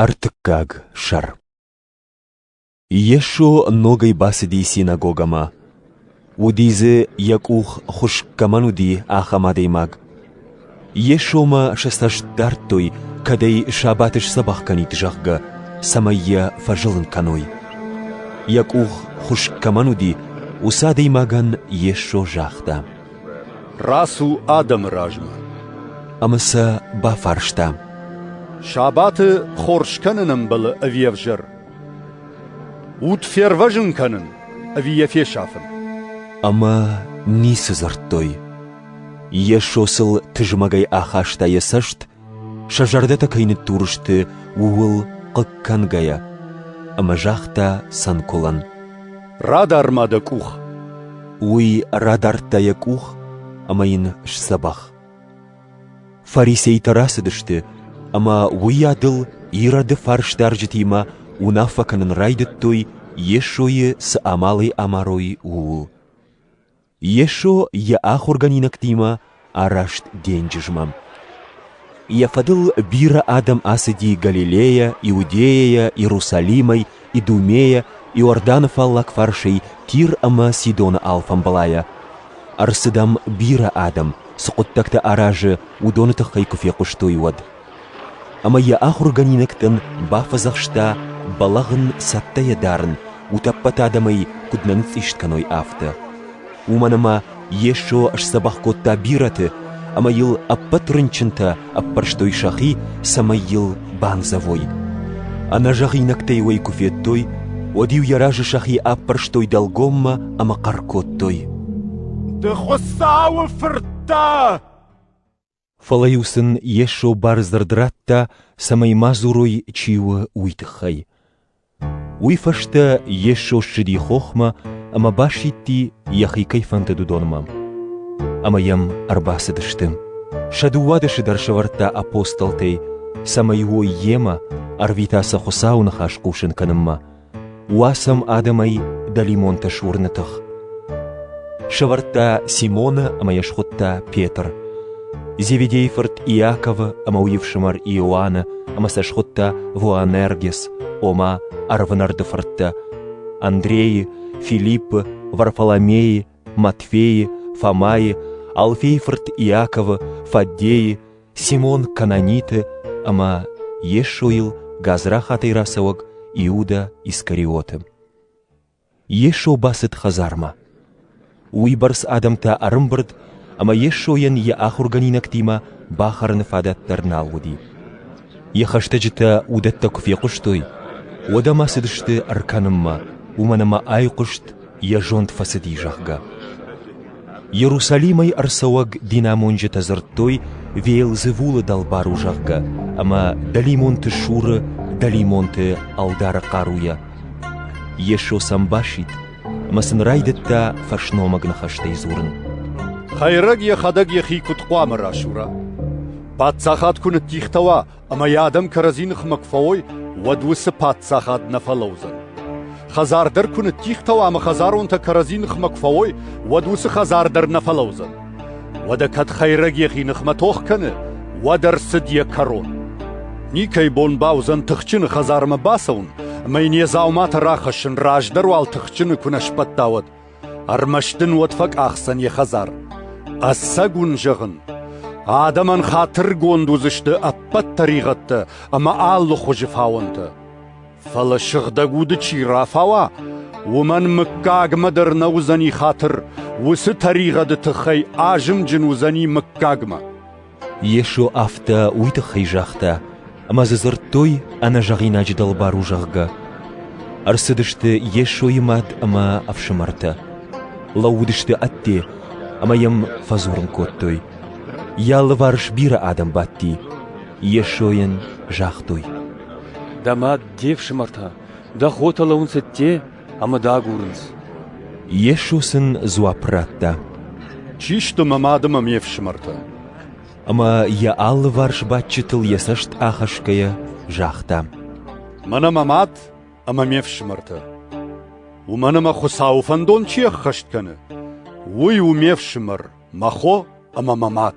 Ӕртыккаг сӕр Йесо ногӕй бацыди синагогӕмӕ. Уыди дзы, йӕ къух хуыскъ кӕмӕн уыди, ахӕм адӕймаг. Йесомӕ сӕ цӕст дардтой, кӕд ӕй сабаты сдзӕбӕх кӕнид, зӕгъгӕ, цӕмӕй йӕ фӕзылын кӕной. Йӕ къух хуыскъ кӕмӕн уыди, уыцы адӕймагӕн Йесо загъта: Рацу адӕмы размӕ. Ӕмӕ сӕ бафарста. Сабаты хорз кӕнын ӕмбӕлы ӕви ӕвзӕр? Уд фервӕзын кӕнын ӕви йӕ фесафын? Ӕмӕ ницы дзырдтой. Йесо сыл тызмӕгӕй ахаста йӕ цӕст Сӕ зӕрдӕтӕ кӕй ныддур сты, ууыл хъыг кӕнгӕйӕ, ӕмӕ загъта Санкулӕн: «Радар ма дӕ къух!» Уый радардта йӕ къух ӕмӕ йын сдзӕбӕх. Фарисейтӕ рацыдысты, ӕмӕ уыйадыл Ироды фарсдарджытимӕ уынаффӕ кӕнын райдыдтой Йесойы цы амалӕй амарой, ууыл. Йесо йӕ ахуыргӕнинӕгтимӕ араст денджызмӕ. Йӕ фӕдыл бирӕ адӕм ацыди Галилейӕ, Иудейӕйӕ, Иерусалимӕй, Идумейӕ, Иорданы фаллаг фарсӕй Тир ӕмӕ Сидоны алфамбылайӕ. Ӕрцыдӕм бирӕ адӕм, цы хъуыддӕгтӕ аразы, уыдоны тыххӕй куы фехъуыстой, уӕд. ӕмӕ йӕ ахуыргӕнинӕгтӕн бафӕдзӕхста бӕлӕгъын цӕттӕйӕ дарын, утӕппӕт адӕмӕй куыд нӕ ныцъцъист кӕной, афтӕ. Уымӕн ӕмӕ Йесо сдзӕбӕх кодта бирӕты ӕмӕ йыл ӕппӕт рынчынтӕ ӕппӕрстой сӕхи, цӕмӕй йыл бандзӕвой. Ӕнӕзӕгъинӕгтӕй уӕй куы федтой, уӕд-иу йӕ разы сӕхи аппӕрстой дӕлгоммӕ ӕмӕ хъӕр кодтой: «Ды Хуыцауы Фырт дӕ!» Фӕлӕ-иу сын Йесо бардзырд радта, цӕмӕй ма дзурой, чи у, уый тыххӕй. Уый фӕстӕ Йесо ссыди хохмӕ ӕмӕ басидти, йӕхи кӕй фӕндыд, уыдонмӕ. Ӕмӕ йӕм ӕрбацыдысты. Сӕ дыууадӕсы дӕр сӕвӕрдта апостолтӕй, цӕмӕй уой йемӕ, ӕрвита сӕ Хуыцауы ныхас хъусын кӕнынмӕ, Уа сӕм адӕмӕй дӕлимонтӕ суырны тых. Сӕвӕрдта Симона ӕмӕ йӕ схуыдта Петр. Зеведейы фырт Иаковы ӕмӕ уый ӕфсымӕр Иоанны ӕмӕ сӕ схуыдта Воанергес, ома ӕрвынӕрды фырттӕ, Андрейы, Филиппы, Варфоломейы, Матфейы, Фомайы, Алфейы фырт Иаковы, Фаддейы, Симон Кананиты ӕмӕ Йесойыл гадзрахатӕй рацӕуӕг Иудӕ Искариоты. Йесо бацыд хӕдзармӕ. Уыйбӕрц адӕмтӕ ӕрымбырд, ӕмӕ Йесойӕн йӕ ахуыргӕнинӕгтимӕ бахӕрыны фадат дӕр нал уыди. Йӕ хӕстӕджытӕ уыдӕттӕ куы фехъуыстой, уӕд ӕмӕ цыдысты ӕркӕнынмӕ, уымӕн ӕмӕ айхъуыст йӕ зонд фӕцыди, зӕгъгӕ. Иерусалимӕй ӕрцӕуӕг динамонджытӕ дзырдтой Веелзевулы дӕлбар у, зӕгъгӕ, ӕмӕ дӕлимонты суры дӕлимонты ӕлдары хъаруйӕ. Йесо сӕм басидт, ӕмӕ сын райдыдта фӕсномыг ныхӕстӕй дзурын. Хӕйрӕг йӕхӕдӕг йӕхи куыд хъуамӕ расура? Паддзахад куы ныддихтӕ уа, Ӕмӕ йӕ адӕм кӕрӕдзи ныхмӕ куы фӕуой, уӕд уыцы паддзахад нӕ фӕлӕудзӕн. Хӕдзар дӕр куы ныттигътӕуа ӕмӕ хӕдзаронтӕ кӕрӕдзи ныхмӕ куы фӕуой, уӕд уыцы хӕдзар дӕр нӕ фӕлӕудзӕн. Уӕдӕ кӕд хӕйрӕг йӕхи ныхмӕ тох кӕны, уӕд ӕрцыд йӕ кӕрон. Никӕй бон бауыдзӕн тыхджыны хӕдзармӕ бацӕуын, ӕмӕ йын йӕ дзауматӕ рахӕссын раздӕр уал тыхджыны куы нӕ сбӕтта, уӕд. Ӕрмӕст дын уӕд фӕкъахдзӕн йӕ хӕдзар. Ӕцӕг уын зӕгъын, адӕмӕн хатыргонд уыдзысты ӕппӕт тӕригъӕдтӕ ӕмӕ алы хуызы фауӕнтӕ. Фӕлӕ сыгъдӕг уды чи рафауа, уымӕн мыггагмӕ дӕр нӕ уыдзӕни хатыр, уыцы тӕригъӕды тыххӕй азымджын уыдзӕни мыггагмӕ. Йесо афтӕ уый тыххӕй загъта, ӕмӕ дзы дзырдтой, ӕнӕзӕгъинаджы дӕлбар у, зӕгъгӕ. Ӕрцыдысты Йесойы мад ӕмӕ ӕфсымӕртӕ. Лӕууыдысты ӕдде ӕмӕ Йӕм фӕдзурын кодтой. Йӕ алыварс бирӕ адӕм бадти. Йесойӕн загътой: «Дӕ мад, де фсымӕртӕ, дӕ хотӕ лӕуынц ӕдде? ӕмӕ дӕ агурынц. Йесо сын дзуапп радта. Чи сты мӕ мады мӕ ме фсымӕртӕ? Ӕмӕ йӕ алыварс бадджытыл йӕ цӕст ахӕсгӕйӕ загъта. Мӕнӕ мӕ мад ӕмӕ ме фсымӕртӕ. Уымӕн ӕмӕ Хуыцауы фӕндон чи ӕххӕст кӕны, уый у ме фсымӕр, мӕ хо ӕмӕ мӕ мад.